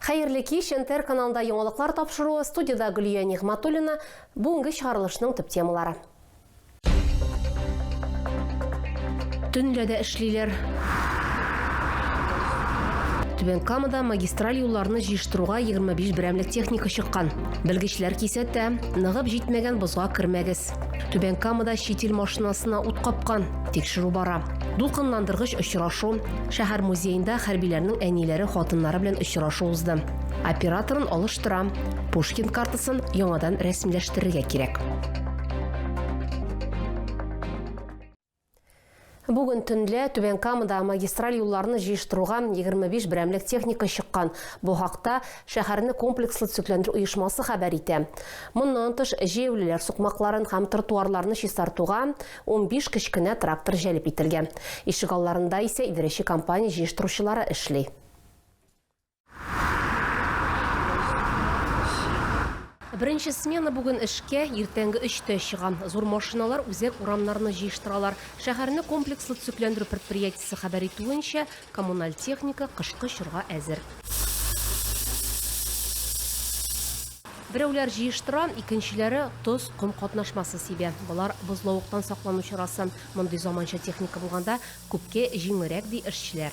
Хәерле кич, НТР каналында яңалыклар тапшыруы, студиядә Гөлия Нигъматуллина, бүгенге чыгарылышның төп темалары. Төнлә дә эшлиләр. Түбән Камада магистраль юлларны җыештыруга 25 берәмлек техника чыккан. Белгечләр кисәтә, ныгып җитмәгән бозга кермәгез. Түбән Камада чит ил машинасына ут капкан. Тикшерү бара. Дулкынландыргыч очрашу. Шәһәр музеенда хәрбиләрнең әниләре, хатыннары белән очрашу узды. Операторын алыштырам. Пушкин картасын яңадан рәсмиләштерергә кирәк. Бүген төнлә Түбән Камада магистраль юлларны җыештыруга 25 берәмлек техника чыккан. Бу хакта шәһәрне комплекслы төзекләндерү оешмасы хәбәр итә. Моннан тыш, җәяүлеләр сукмакларын һәм тротуарларны чистартуга 15 кечкенә трактор җәлеп ителгән. Ишегалларында исә идарәче компания җыештыручылары эшли. Беренче смена бүген эшкә иртәнге өчтә чыга. Зур машиналар үзәк урамнарны җыештыралар. Шәһәрне комплекслы төзекләндерү предприятиесе хәбәр итүенчә, коммуналь техника кышкы чорга әзер. Берәүләр җыештыра, икенчеләре тоз, ком катнашмасы сибә. Болар бозлавыктан саклану чарасы. Мондый заманча техника булганда күпкә җиңелрәк, ди эшчеләр.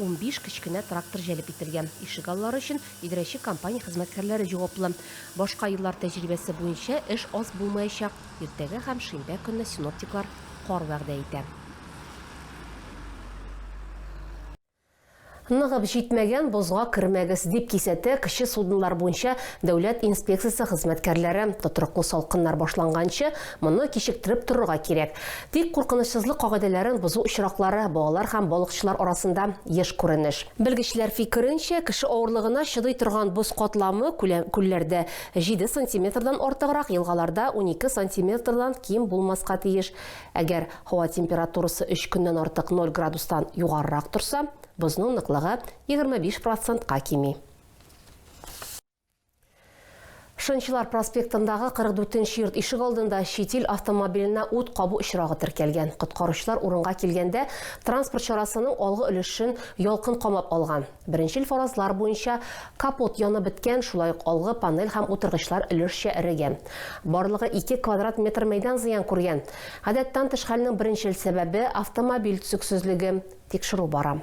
Унбиш кечкенә трактор җәлеп ителгән. Ишегаллары өчен идарәче компания хезмәткәрләре җаваплы. Башка еллар тәҗрибәсе буенча, эш аз булмаячак. Иртәгә һәм шимбә көнне синоптиклар кар вәгъдә итә. Ныгып җитмәгән бозга кермәгез, дип кисәтә кече суднолар буенча дәүләт инспекциясе хезмәткәрләре. Тотрыклы салкыннар башланганчы, Моны кичектереп торырга кирәк. Тик куркынычсызлык кагыйдәләрен бозу очраклары балалар һәм балыкчылар арасында еш күренеш. Белгечләр фикеренчә, кеше авырлыгына чыдый торган боз катламы күлләрдә, җиде сантиметрдан артыграк, елгаларда, унике сантиметрдан ким булмаска тиеш. Әгәр һава температурасы өч көннән артык ноль градустан югарырак торса, бозның ныклыгы егерме биш процентка кими. Шынчылар проспектындагы 44 нче йорт ишегалдында чит ил автомобиленә ут кабу очрагы теркәлгән. Коткаручылар урынга килгәндә, транспорт чарасының алгы өлешен ялкын камап алган. Беренчел фаразлар буенча, капот янып беткән, шулай ук алгы панель һәм утыргычлар өлешчә эрегән. Барлыгы ике квадрат метр мәйдан зыян күргән. Гадәттән тыш хәлнең беренчел сәбәбе, автомобиль төзексезлеге. Тикшерү бара.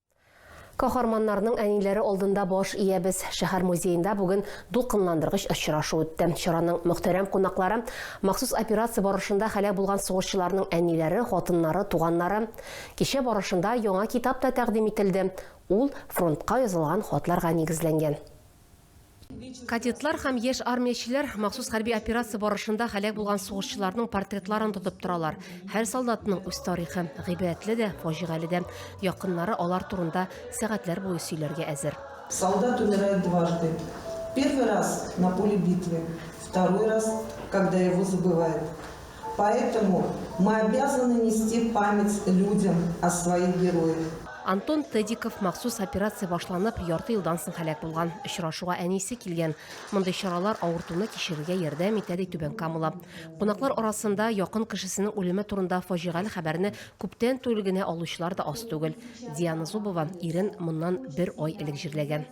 Каһарманнарның әниләре алдында баш иябез. Шәһәр музеенда бүген дулкынландыргыч очрашу үтте. Чараның мөхтәрәм кунаклары махсус операция барышында һәлак булган сугышчыларның әниләре, хатыннары, туганнары. Кичә барышында яңа китап та тәкъдим ителде. Ул фронтка язылган хатларга нигезләнгән. Кадетлар һәм яшь армиячеләр махсус хәрби операция барышында һәлак булган сугышчыларның портретларын тотып торалар. Һәр солдатның үз тарихы, гыйбрәтле дә, фаҗигале дә. Якыннары алар турында сәгатьләр буе сөйләргә әзер. Солдат умирает дважды. Первый раз на поле битвы, второй раз, когда его забывают. Поэтому мы обязаны нести память людям о своих героях. Антон Тедиков махсус операция башланып, ярты елдан соң һәлак булган. Очрашуга әнисе килгән. Мондый чаралар авыртуны кичерергә ярдәм итә, ди Түбән Камала. Кунаклар арасында якын кешесенең үлеме турында фаҗигале хәбәрне күптән түгел генә алучылар да аз түгел. Диана Зубова ирен моннан бер ай элек җирләгән.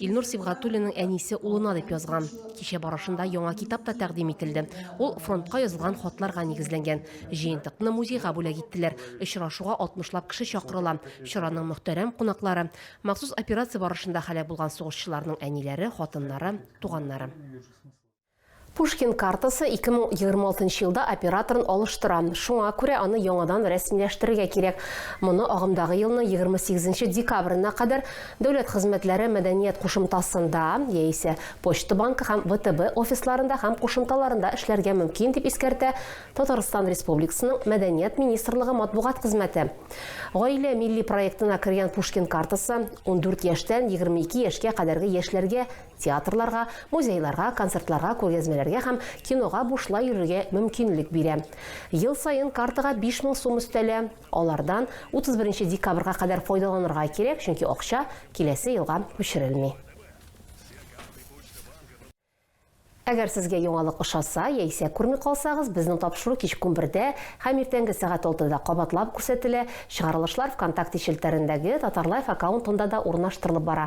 Илнур Сибгатуллинның әнисе улына дип язган. Кичә барышында яңа китап та тәкъдим ителде. Ул фронтка язылган хатларга нигезләнгән. Җыентыкны музейга бүләк иттеләр. Очрашуга 60 лап кеше чакырыла. Чараның мөхтәрәм кунаклары, махсус операция барышында һәлак булган сугышчыларның әниләре, хатыннары, туганнары. Пушкин картасы 2026 елда операторын алыштыра. Шуңа күрә аны яңадан рәсмиләштерергә кирәк. Моны агымдагы елның 28 декабрена кадәр Дәүләт хезмәтләре мәдәният кушымтасында яисә Почта банкы һәм ВТБ офисларында һәм кушымталарында эшләргә мөмкин, дип искәртә Татарстан Республикасының Мәдәният министрлыгы матбугат хезмәте. Гаилә милли проектына кергән Пушкин картасы 14 яшьтән 22 яшькә кадәрге яшьләргә театрларга, музейларга, концертларга, күргәзмәләргә һәм кинога бушлай йөрергә мөмкинлек бирә. Ел саен картага 5000 сум өстәлә, алардан 31 декабрьга кадәр файдаланырга кирәк, чөнки акча киләсе елга күчерелми. Әгәр сезгә яңалык ошаса яисә күрми калсагыз, безнең тапшыру кичке унбердә һәм иртәнге сәгать алтыда кабатлап күрсәтелә, чыгарылышлар ВКонтакте челтәрендәге Татарлайф аккаунтында да урнаштырылып бара.